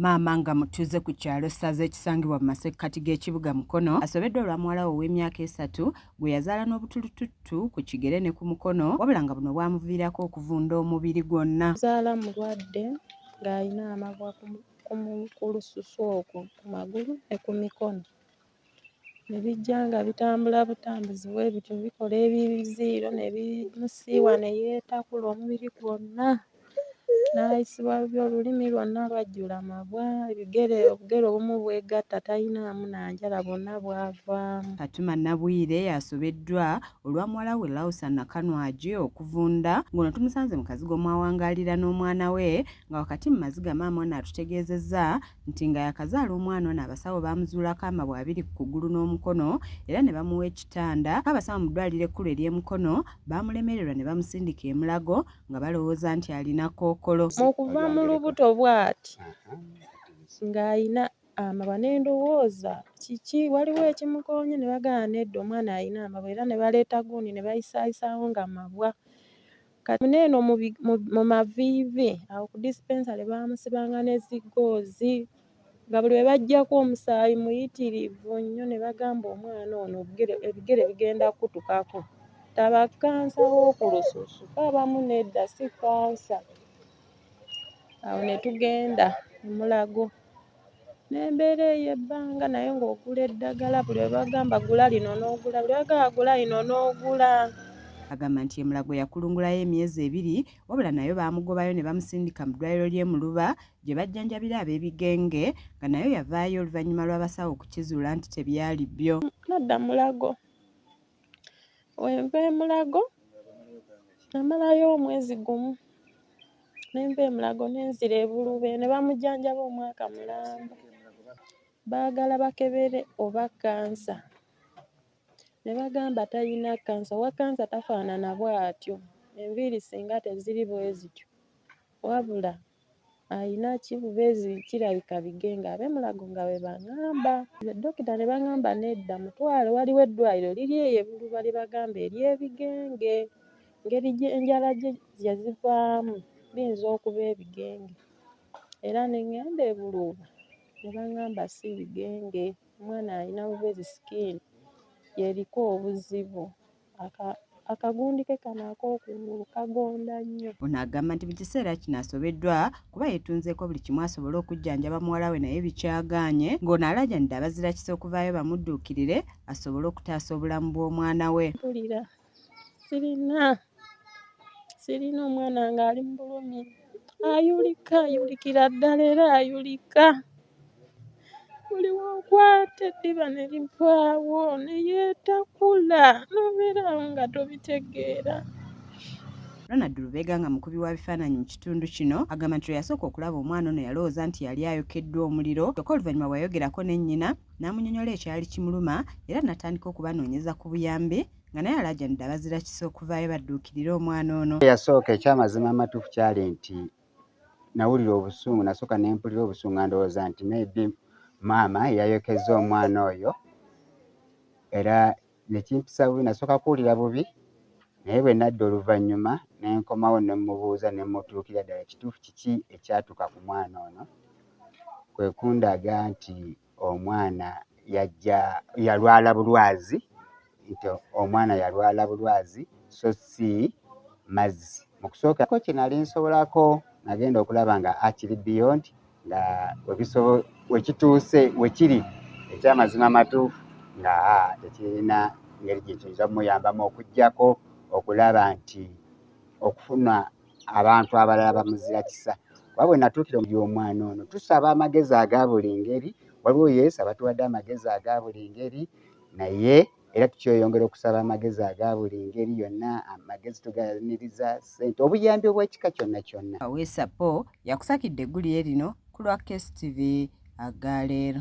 Maama nga mutuuze ku kyalo Ssaza ekisangibwa mu masekkati g'ekibuga Mukono asobeddwa olwa muwala we ow'emyaka esatu gwe yazaala n'obutulututtu ku kigere ne ku mukono wabula nga buno bwamuviirako okuvunda omubiri gwonna. Nzaala mulwadde ng'alina amabwa ku lususu okwo ku magulu ne ku mikono. ne bijja nga bitambula butambuzi bwe bityo bikola ebiziiro ne bimusiiwa ne yeetakula omubiri gwonna n'ayisibwa bubi olulimi lwonna lwajjula amabwa ebigere obugere obumu bwegatta talinaamu na njala bwonna bwavaamu. Fatuma Nabwire asobeddwa olwa muwala we Lausa Nakanwagi okuvunda ng'ono tumusanze mu kazigo mw'awangaalira n'omwana we nga wakati mu maziga maama ono atutegeezezza nti nga yakazaala omwana ono abasawo baamuzuulako amabwa abiri ku kugulu n'omukono era ne bamuwa ekitanda abasawo mu ddwaliro ekkulu ery'emukono baamulemererwa ne bamusindika emulago nga balowooza nti alina kookolo mu kuva mu lubuto bw'ati ng'alina amabwa ne ndowooza kiki waliwo ekimukoonye ne bagamba nedda omwana alina amabwa era ne baleeta gundi ne bayisaayisaawo nga mabwa Kati mune eno mu maviivi awo ku dispensary baamusibanga ne ziggoozi nga buli we baggyako omusaayi muyitirivu nnyo ne bagamba omwana ono ebigere bigenda kukutukako. Taba kkansa w'oku lususu abamu nedda si kkansa. Awo ne tugenda e Mulago. n'embeera eyo ebbanga naye ng'ogula eddagala buli lwe bagamba gula lino n'ogula buli bagamba gula lino n'ogula agamba nti emulago yakulungulayo emyezi ebiri wabula nayo baamugobayo ne bamusindika mu ddwaliro ly'e Muluba gye bajjanjabira ab'ebigenge nga nayo yavaayo oluvannyuma lw'abasawo okukizuula nti tebyali byo. Nadda Mulago wenva emulago namalayo omwezi gumu nenva emulago nenzira ebulube nebamujanjaba omwaka mulamba bagala bakebere oba kansa nebagamba tayina kansa owa kansa tafanana bwatyo enviri singa teziri bwezityo wabula Ayinaki bubezi kirabika bige nga abe mulago nga bwebangamba dokita nebangamba nedda mutwale waliwo eddwaliro liri eyo ebuluba lyebagamba eryebigenge ngeri enjala jezivaamu biyinza okuba ebigenge era nengenda ebuluuba nebangamba si bigenge omwana ayina bubezi skin yeriko obuzibu. akagundi ke kano ak'okungulu kagonda nnyo. Ono agamba nti mu kiseera kino asobeddwa kuba yeetunzeeko buli kimu asobole okujjanjaba muwala we naye bikyagaanye ng'ono alaajanidde abazirakisa okuvaayo bamudduukirire asobole okutaasa obulamu bw'omwana we. Mpulira sirina sirina omwana ng'ali mu bulumi ayulika ayulikira ddala era ayulika. buli wokwata eddiba ne livaawo ne yeetakula n'obeera awo nga tobitegeera Ronald Lubega nga mukubi wa bifaananyi mu kitundu kino agamba nti lweyasooka okulaba omwana ono yalowooza nti yali ayokeddwa omuliro kyokka oluvannyuma bweyayogerako ne nnyina n'amunyonyola ekyali kimuluma era natandika okubanoonyeza ku buyambi nga naye alaajanidde abazira kisa okuvaayo badduukirire omwana ono. Yasooka ekyamazima amatuufu kyali nti nawulira obusungu nasooka nempulira obusungu nga ndowooza nti maybe maama yayokezza omwana oyo era nekimpisa bubi nasooka kuwulira bubi naye bwe nadda oluvannyuma nenkomawo nemubuuza nemutuukira ddala kituufu kiki ekyatuuka ku mwana ono kwe kundaga nti omwana yajja yalwala bulwazi nti omwana yalwala bulwazi so si mazzi mu kusookako kye nali nsobolako nagenda okulaba nga akiri beyond nga wekituuse wekiri ekyamazima matuufu nga tekirina ngeri gye kiyinza kumuyambamu okugyako okulaba nti okufuna abantu abalala bamuzira kisa kuba bwe natuukira omuli omwana ono tusaba amagezi aga buli ngeri waliwo yesu abatuwadde amagezi aga buli ngeri naye era tukyeyongera okusaba amagezi aga buli ngeri yonna amagezi tuganiriza sente obuyambi obwekika kyonna kyonna awesapo yakusakidde eggulire lino ku lwa kstv agaleero